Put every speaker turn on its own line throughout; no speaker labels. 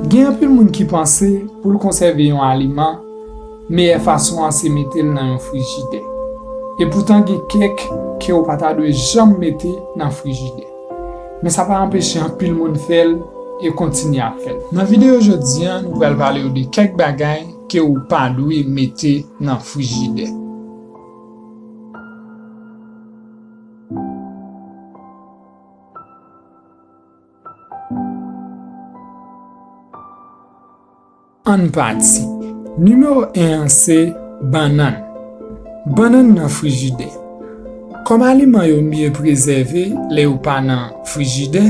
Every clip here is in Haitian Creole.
Gen anpil moun ki panse pou l konsève yon aliman, meyè fason an se mete l nan yon frijidè. Epoutan gen kèk ke ou pa ta dwe janm mete nan frijidè. Men sa pa anpeche anpil moun fè l e kontinye ap fè l. Nan videyo jodi an nou pral pale w de kèk bagay ke ou pa dwe mete nan frijidè. Ann pati. Nimewo 1 an se bannann. Bannann nan frijidè. Kòm aliman yo mye prezève lè yo pa nan frijidè,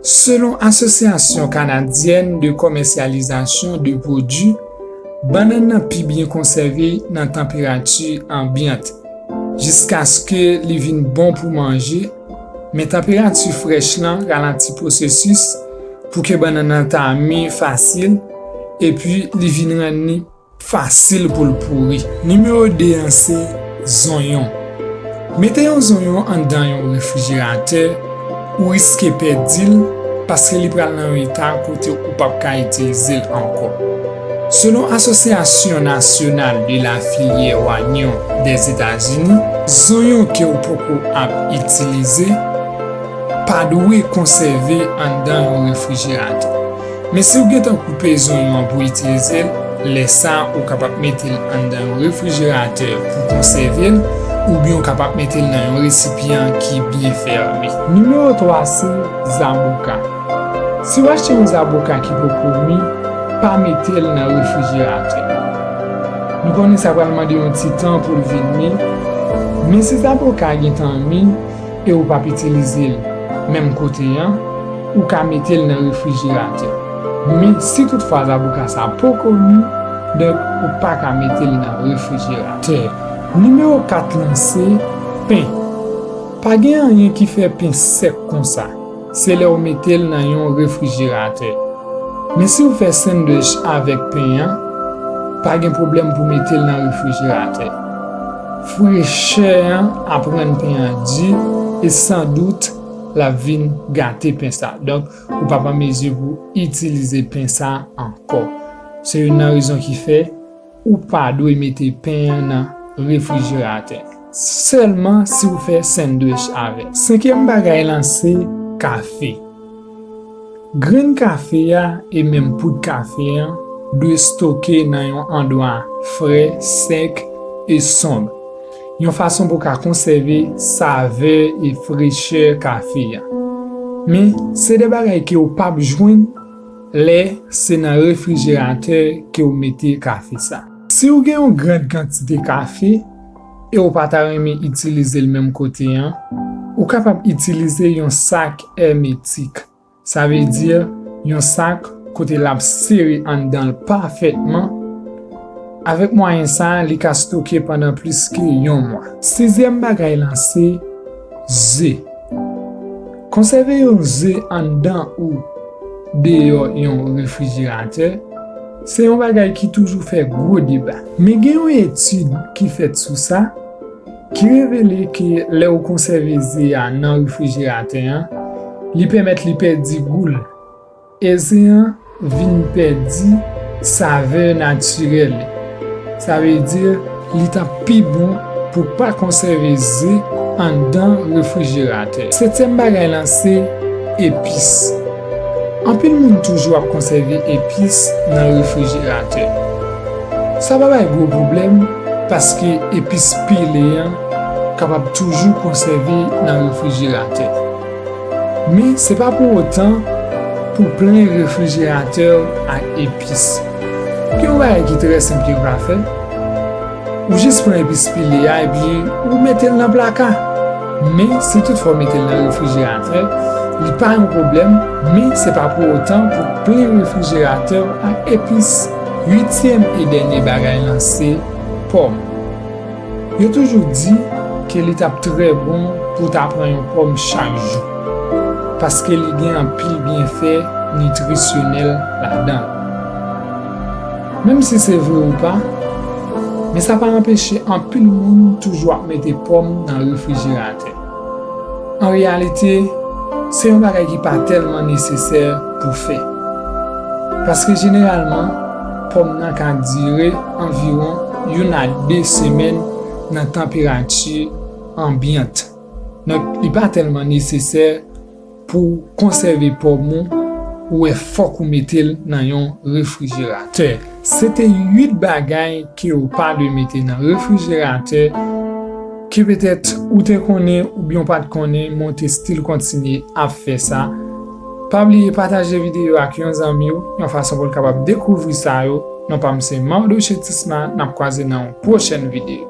selon Asosyasyon Kanadyèn de Kòmèsyalizasyon de Pwodui, bannann nan pi byen konsève nan tanperati anbyant, jiskaske li vin bon pou manje, Men tanperati frèch lan ralanti pwosesis pou ke bannann nan ta mi fasil epi li vin rann li fasil pou l pouri. Nimewo 2 an se, zonyon. Mete yon zonyon anndan yon refrijeratè, ou riske pèdi l paske li pral nan yon eta kote ou pap ka itilize l ankò. Selon Asosyasyon Nasyonal de la Filyè Wanyon Dèzetazini, zonyon ke w poko ap itilize pa dwe konsève anndan yon refrijeratè. Men si w gentan koupe zonyon an pou itilize l, lè sa ou kapab mete l anndan yon refrijeratè pou konsève l oubyen ou kapab mete l nan yon resipyan ki byen fèmen. Nimewo 3 se Zaboka. Si w achte yon zaboka ki poko mi, pa mete l nan refrijeratè. Nou konnen sa pral mande yon ti tan pou l vin mi, men si zaboka a gentan mi e ou p ap itilize l menm kote an, ou ka mete l nan refrijeratè. Men, si toutfwa zaboka sa a poko mi, donk ou pa ka mete l nan refrijeratè. Nimewo 4 lan se, pen. Pa gen anyen ki fè pen sèk konsa. Se lè ou mete l nan yon refrijeratè. Men si ou fè sandwich avèk pen an, pa gen pwoblèm pou mete l nan refrijeratè. Frechè an ap rann pen an di e san dout l ap vin gate pen sa. Donk, ou p ap an mezi pou itilize pen sa ankò. Se youn nan rezon ki fè. Ou pa dwe mete pen an nan refrijeratè, sèlman si ou fè sandwich avè l. Senkyèm bagay lan se kafe. Grenn kafe a e menm poud kafe an dwe stoke nan yon andwa fre, sèk e sonb, yon fason pou ka konsève savè e frechè kafe a. Men, se de bagay ke ou pap jwenn Lè se nan refrijeratè ke ou mete kafe sa. Si ou gen yon grand kantite kafe e ou pa ta renmen itilize l menm kote an, ou kapab itilize yon sak èmetik, sa vle di yon sak kote lap sere anndan l pafètman, avèk mwayen sa li ka stoke pandan plis ke yon mwa. Sizyèm bagay lan se ze. Konsève yon ze anndan ou deyò yon refrijeratè se yon bagay ki toujou fè gwo deba. Men gen yon etid ki fèt sou sa ki revele ke lè ou konsève ze a nan refrijeratè an, li pèmèt li pèdi gou l. E zen an vin pèdi savè natirèl li. Sa vle di li t ap pi bon pou pa konsève ze anndan refrijeratè. Setyèm bagay lan se epis. Anpil moun toujou ap konsève epis nan refrijeratè. Sa pa bay gwo pwoblèm paske epis pile an kapab toujou konsève nan refrijeratè. Men se pa pou otan pou plen refrijeratè w ak epis. Gen yon bagay ki trè senp ke w ka fè, ou jis pran epis pile a epi ou mete l nan plaka. Men si tout fwa w mete l nan refrijeratè, li pa yon pwoblèm, men se pa pou otan pou plen refrijeratè w ak epis. Uityèm e dènye bagay lan se pòm. Yo toujou di ke li tap trè bon pou w ta pran yon pòm chak jou, paske li gen anpil byenfè nitrisyonèl ladan l. Menm si se vre ou pa, men sa pa anpeche anpil moun toujou ap mete pòm nan refrijeratè. An reyalite, se yon bagay ki pa tèlman nesesè pou fè. Paske jeneralman, pòm nan ka dire anviwon youn a de semèn nan tanperati anbyant. Donk, li pa tèlman nesesè. Pouw konsève pòm ou, ou wè fòk ou metel nan yon refrijeratè. Sete 8 bagay kew pa dwe mete nan refrijeratè, ke petèt ou te konnen oubyenw pat konnen men w te stil kontinye ap fè sa. Pa bliye pataje videyo a ak yon zanmiw yon fason poul kapab dekouvri sa yo, non pam se Mardoche Tisma nap kwaze nan yon pwochèn videyo.